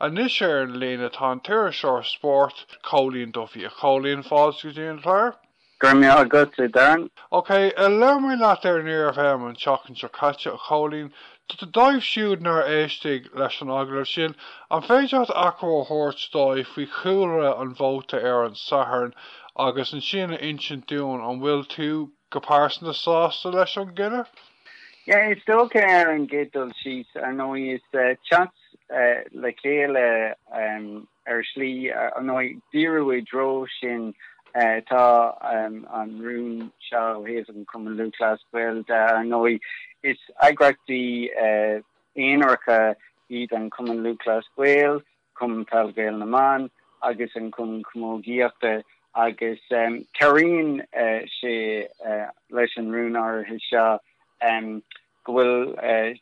Anois ar an líne tá an t-iriseoir spóirt, Cóilín Duffy. A Chóilín, fáilte go dtí an clár. Go raibh maith agat, a Darren. OK, labhair mé leat ar Near FM an tseachtain seo caite, a Chóilín. Dóibh siúd nár éistigh leis an agallamh sin, an féidir leat achoimre a thabhairt dóibh faoi chúlra an vóta ar an Satharn agus ansin a insint dúinn an bhfuil tú, Go pearsanta sásta leis an gcinneadh? Yeah, is dócha ar an gcéad dul síos, ar ndóigh, is teacht le chéile ar shlí, ar ndóigh, díriú i dtreo sin atá an rún seo ó thaobh an Chumann Lúthchleas Gael de. Ar ndóigh, is eagraíochtaí aonaracha iad an Cumann Lúthchleas Gael. Cumann Peil Ghaeil na mBan agus an Cumann Camógaíochta agus cabhraíonn sé leis an rún áirithe seo go bhfuil,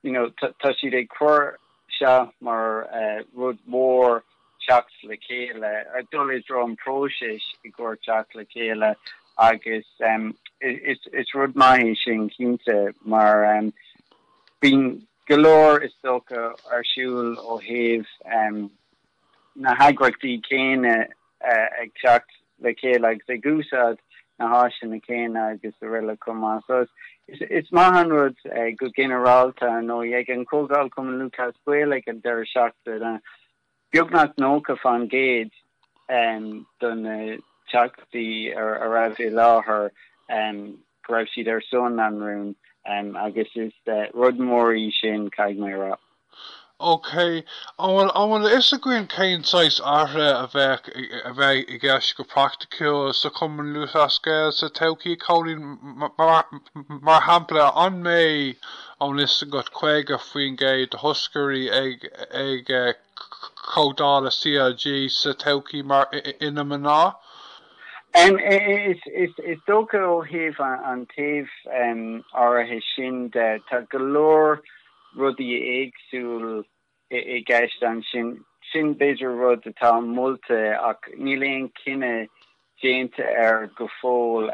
you know, tá siad ag cur seo mar rud mór teacht le chéile, dul i dtreo an próisis i gcomhair teacht le chéile agus is rud maith é sin cinnte mar bíonn go leor, is dócha, ar siúl ó thaobh na heagraíochtaí céanna ag teacht le chéile agus ag úsáid na háiseanna céanna agus aroile chomh maith. So is maith an rud go ginearálta ar ndóigh ag an chomhdháil Cumann Lúthchleas Gael ag an deireadh seachtaine, Beagnach 90 fán gcéad de na Teachtaí a raibh i láthair, go raibh siad ar son an rúin agus is rud mór í sin, caithfidh mé a rá. OK. An bhfuil a fhios againn cén saghas athruithe a d'fhéadfadh a bheith i gceist go praiticiúil sa Chumann Lúthchleas Gael sa todhchaí a Chóilín? Mar shampla, an mbeidh tá a fhios agat 50% de thoscairí ag ag comhdhála CLG sa todhchaí mar ina mná? Is dócha ó thaobh an taobh áirithe sin de, tá go leor rudaí éagsúil i gceist ansin. Sin b'fhéidir rud atá molta ach níl aon chinneadh déanta air go fóill.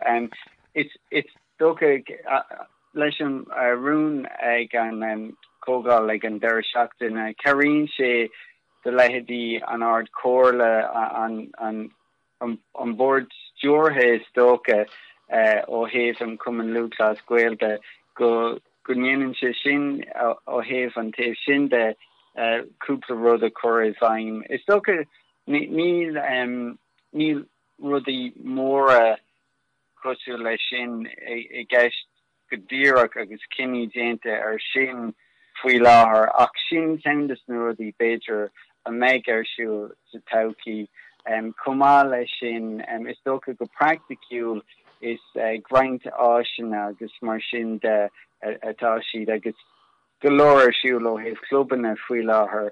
Is dócha leis an rún ag an Chomhdháil ag an deireadh seachtaine, cabhraíonn sé do leithéidí an Ard Chomhairle an an Bord Stiúrtha is dócha ó thaobh an Chumann Lúthchleas Gael de, go, go ndéanann sé sin ó thaobh an taobh sin de cúpla rud a chur i bhfeidhm. Is dócha níl rudaí móra cosúil leis sin i gceist. go díreach agus cinní déanta ar sin faoi láthair ach sin ceann de na rudaí b'fhéidir a bheidh ar siúl sa todhchaí. Chomh maith leis sin, is dócha go praiticiúil is ag roinnt áiseanna agus mar sin de atá siad agus go leor ar siúl ó thaobh clubanna faoi láthair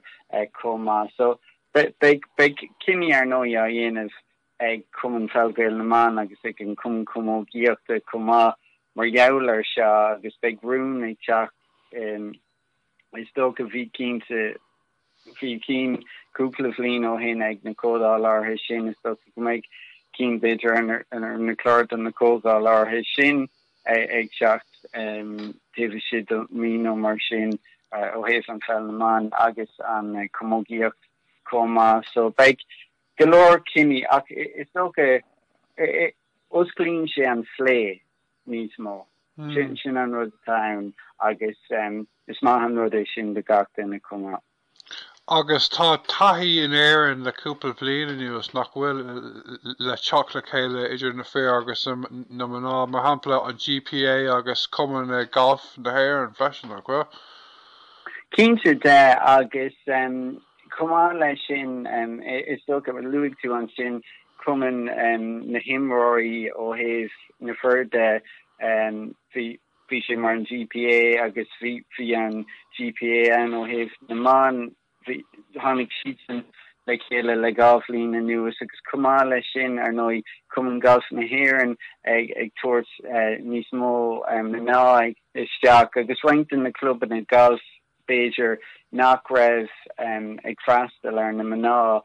chomh maith so beidh cinní ar ndóigh á dhéanamh ag Cumann Peil Gael na mBan agus ag an Cumann Camógaíochta chomh maith mar gheall air seo agus beidh rún ag teacht is dócha bhí cinnte bhí cinn cúpla bhliain ó shin ag na Comhdhálacha sin is dócha go mbeidh cinn b'fhéidir ar ar na cláir do na Comhdhálacha sin ag teacht taobh istigh de mhí nó mar sin ó thaobh an Pheil na mBan agus an Camógaíocht chomh maith so beidh Go leor cinní, ach is dócha, osclaíonn sé an plé níos mó. Sin an rud atá ann agus is maith an rud é sin do gach duine chomh maith. Agus tá taithí in Éirinn le cúpla bliain anuas, nach bhfuil, le teacht le chéile idir na fir agus na mná, mar shampla, an GPA agus Cumann Gailf na hÉireann freisin, nach bhfuil? Cinnte de, agus Chomh maith leis sin, is dócha, luaigh tú ansin cumann na n-imreoirí ó thaobh na fir de, bhí sé mar an GPA agus bhí an GPA ann ó thaobh na mban, tháinig siadsan le chéile le dhá bhliain anuas agus chomh maith leis sin, ar ndóigh, Cumann Gailf na hÉireann ag tabhairt níos mó mná isteach i roinnt de na clubanna gailf. b'fhéidir, nach raibh ag freastal ar na mná,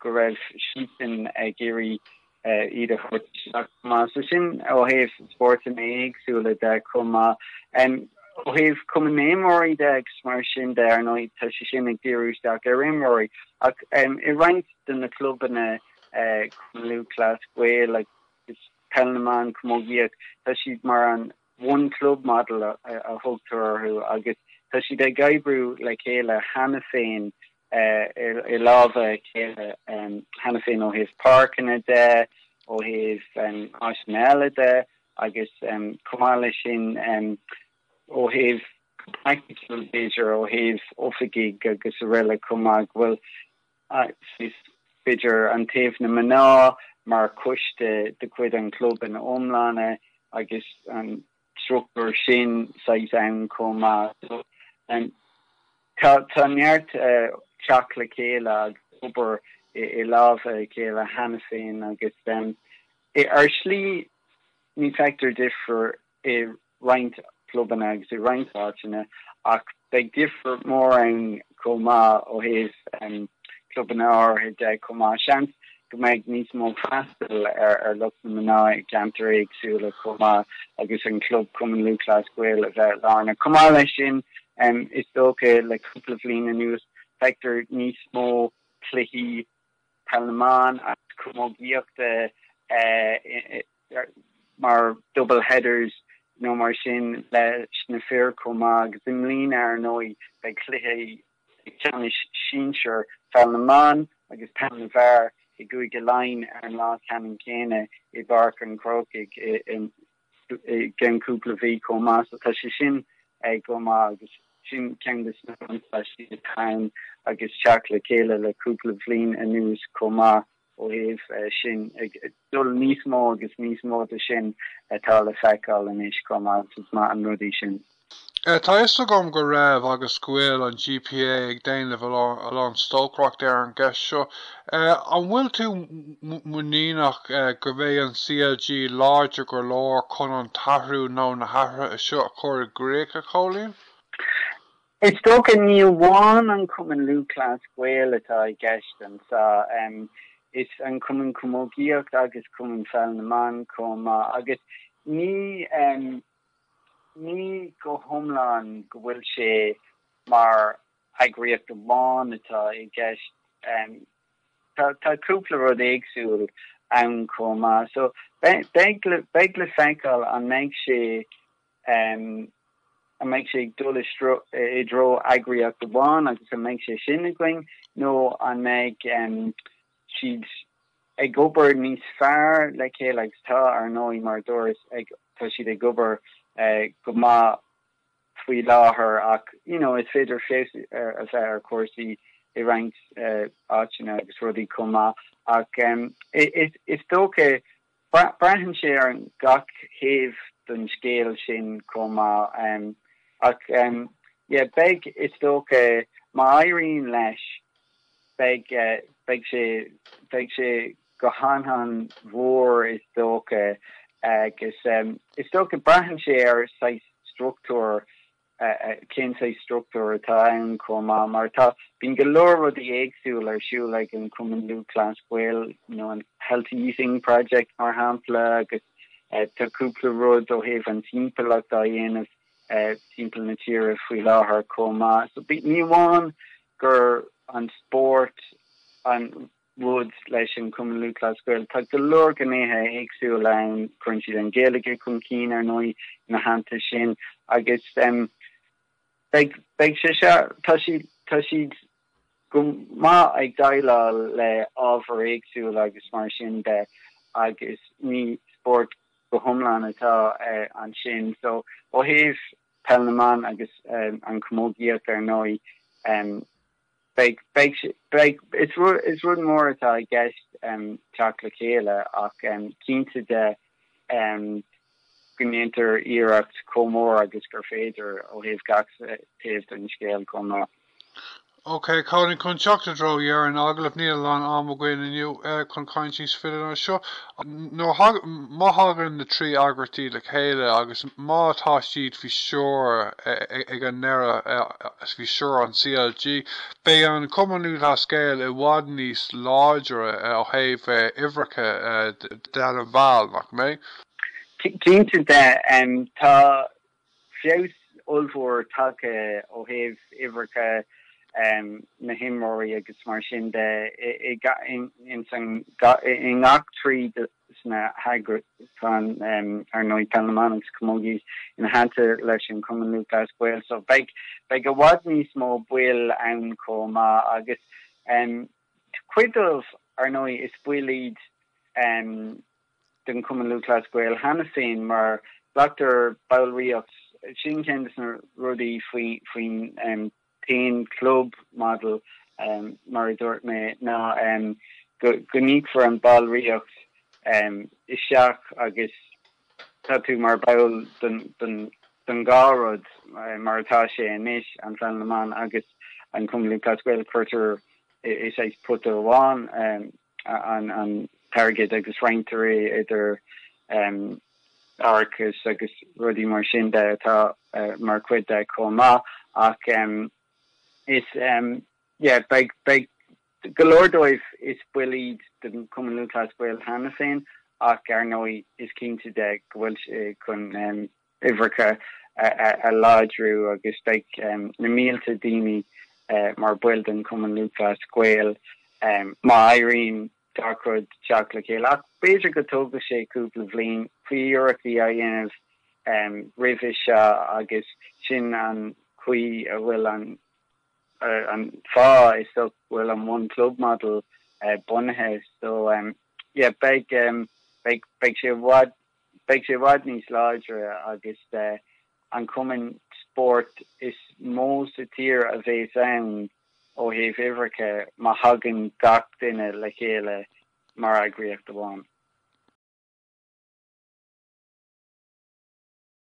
go raibh siadsan ag iarraidh iad a thabhairt isteach chomh maith. So sin ó thaobh spórtanna éagsúla de chomh maith. Ó thaobh Cumann na nImreoirí de agus mar sin de, ar ndóigh, tá sé sin ag díriú isteach ar imreoirí ach i roinnt de na clubanna, Cumann Lúthchleas Gael agus Peil na mBan, Camógaíocht, tá siad mar an One Club Model a thugtar orthu agus tá siad ag oibriú le chéile cheana féin, i lámha a chéile cheana féin ó thaobh páirceanna de, ó thaobh áiseanna eile de agus chomh maith leis sin ó thaobh praiticiúil b'fhéidir ó thaobh oifigigh agus araile chomh maith go bhfuil Is idir an taobh na mná mar choiste de chuid an chlub ina iomláine agus an struchtúr sin saghas ann chomh maith. Tá neart teacht le chéile agus obair i lámha a chéile cheana féin agus ar shlí ní fheictear difear i roinnt clubanna agus i roinnt áiteanna ach beidh difear mór ann chomh maith ó thaobh clubanna áirithe de chomh maith, seans go mbeidh níos mó freastail ar lucht na mná i gceantair éagsúla chomh maith agus an club Cumann Lúthchleas Gael a bheith lárnach. Chomh maith leis sin, is dócha le cúpla bhliain anuas feictear níos mó cluichí peil na mban agus camógaíochta mar double headers nó mar sin leis na fir chomh maith agus i mbliana ar ndóigh beidh cluichí ceannais sinsir Pheil na mBan agus Peil na bhFear i gCúige Laighean ar an lá ceannann céanna i bPáirc an Chrócaigh i gceann cúpla mí chomh maith so tá sé sin go maith agus sin ceann de na buntáistí atá ann agus teacht le chéile le cúpla bhliain anuas chomh maith ó thaobh sin, ag dul níos mó agus níos mó de sin atá le feiceáil anois chomh maith, is maith an rud é sin. Tá fhios agam go raibh agus go bhfuil an GPA ag déanamh a lán stocaireachta ar an gceist seo. An bhfuil tú muiníneach go mbeidh an CLG láidir go leor chun an t-athrú nó na hathruithe seo a chur i gcrích, a Chóilín? Is dócha, ní amháin an Cumann Lúthchleas Gael atá i gceist anso, is an Cumann Camógaíochta agus Cumann Pheil na mBan chomh maith, agus ní ní go hiomlán go bhfuil sé mar eagraíocht amháin atá i gceist, tá tá cúpla rud éagsúil ann chomh maith. So, beidh le beidh le feiceáil an mbeidh sé. An mbeidh sé ag dul i dtreo eagraíocht amháin agus an mbeidh sé sin againn nó an mbeidh siad ag obair níos fearr le chéile agus tá, ar ndóigh, mar a dúras, tá siad ag obair go maith faoi láthair ach you know is féidir feabhas a bheith ar chúrsaí i roinnt áiteanna agus rudaí chomh maith ach is dócha Braitheann sé ar gach thaobh den scéal sin chomh maith. Ach yeah, beidh, is dócha, má éiríonn leis, beidh, beidh sé, beidh sé go han han mhór is dócha. Agus is dócha, braitheann sé ar saghas struchtúir Cén saghas struchtúir atá ann chomh maith? Mar tá, bíonn go leor rudaí éagsúla ar siúl ag an Cumann Lúthchleas Gael, an Healthy Eating Project mar shampla, agus tá cúpla rud ó thaobh an timpeallacht á dhéanamh timpeall na tíre faoi láthair chomh maith. So ní amháin gur an spórt an Woods leis an Cumann Lúthchleas Gael. Tá go leor gnéithe éagsúla ann, cuireann siad an Ghaeilge chun cinn, ar ndóigh, ina theannta sin agus beidh sé seo, tá siad, tá siad go maith ag déileáil le ábhair éagsúla agus mar sin de agus ní spórt go hiomlán atá ansin. So ó thaobh Peil na mBan agus an Chamógaíocht ar ndóigh, Is rud mór atá i gceist teacht le chéile ach cinnte de go ndéantar iarracht chomh mór agus gur féidir ó thaobh gach taobh den scéal chomh maith. Ok, cairde chun teacht i dtreo dheireadh an agallaimh, níl a lán am againn inniu chun caint níos faide ná seo Má thagann na trí eagraíochtaí le chéile agus má tá siad faoi stiúir ag an ndeireadh is faoi stiúir an CLG, beidh an Cumann Lúthchleas-Gael i bhfad níos láidre ó thaobh uimhreacha de na mball, nach mbeidh? Cinnte de. Tá feabhas ollmhór tagtha ó thaobh uimhreacha na himreoirí agus mar sin de i ngach trí de na heagrais ar ndóigh. Peil na mBan agus Camogie ina theannta leis an Cumann Lúthchleas Gael so beidh i bhfad níos mó baill ann chomh maith agus cuid díobh ar ndóigh is baill iad den Chumann Lúthchleas Gael cheana féin mar glactar ballraíocht, sin ceann de na rudaí faoin t-aon club model mar a dúirt mé ná go n-íocfar an ballraíocht isteach agus tá tú mar bhall don dhá rud mar atá sé anois, an Pheil na mBan agus an Cumann Lúthchleas Gael, cuirtear i pota amháin. an t-airgead agus roinntear é idir árachas agus rudaí mar sin de atá mar chuid de chomh maith ach is yeah beidh go leor díobh is baill iad den Cumann Lúthchleas Gael cheana féin ach ar ndóigh is cinnte de go bhfuil sé chun uimhreacha a láidriú agus beidh na mílte daoine mar bhaill den Chumann Lúthchleas Gael má éiríonn leis an rud teacht le chéile ach b'fhéidir go dtógfaidh sé cúpla bhliain bhí iarrachtaí a dhéanamh roimhe seo agus sin an chaoi a bhfuil an an fáth is so bhfuil an one club model bunaithe so yeah beidh beidh beidh sé bhfad Beidh sé i bhfad níos láidre agus an cumann spóirt is mó sa tír a bheas ann ó thaobh uimhreacha má thagann gach duine le chéile mar eagraíocht amháin.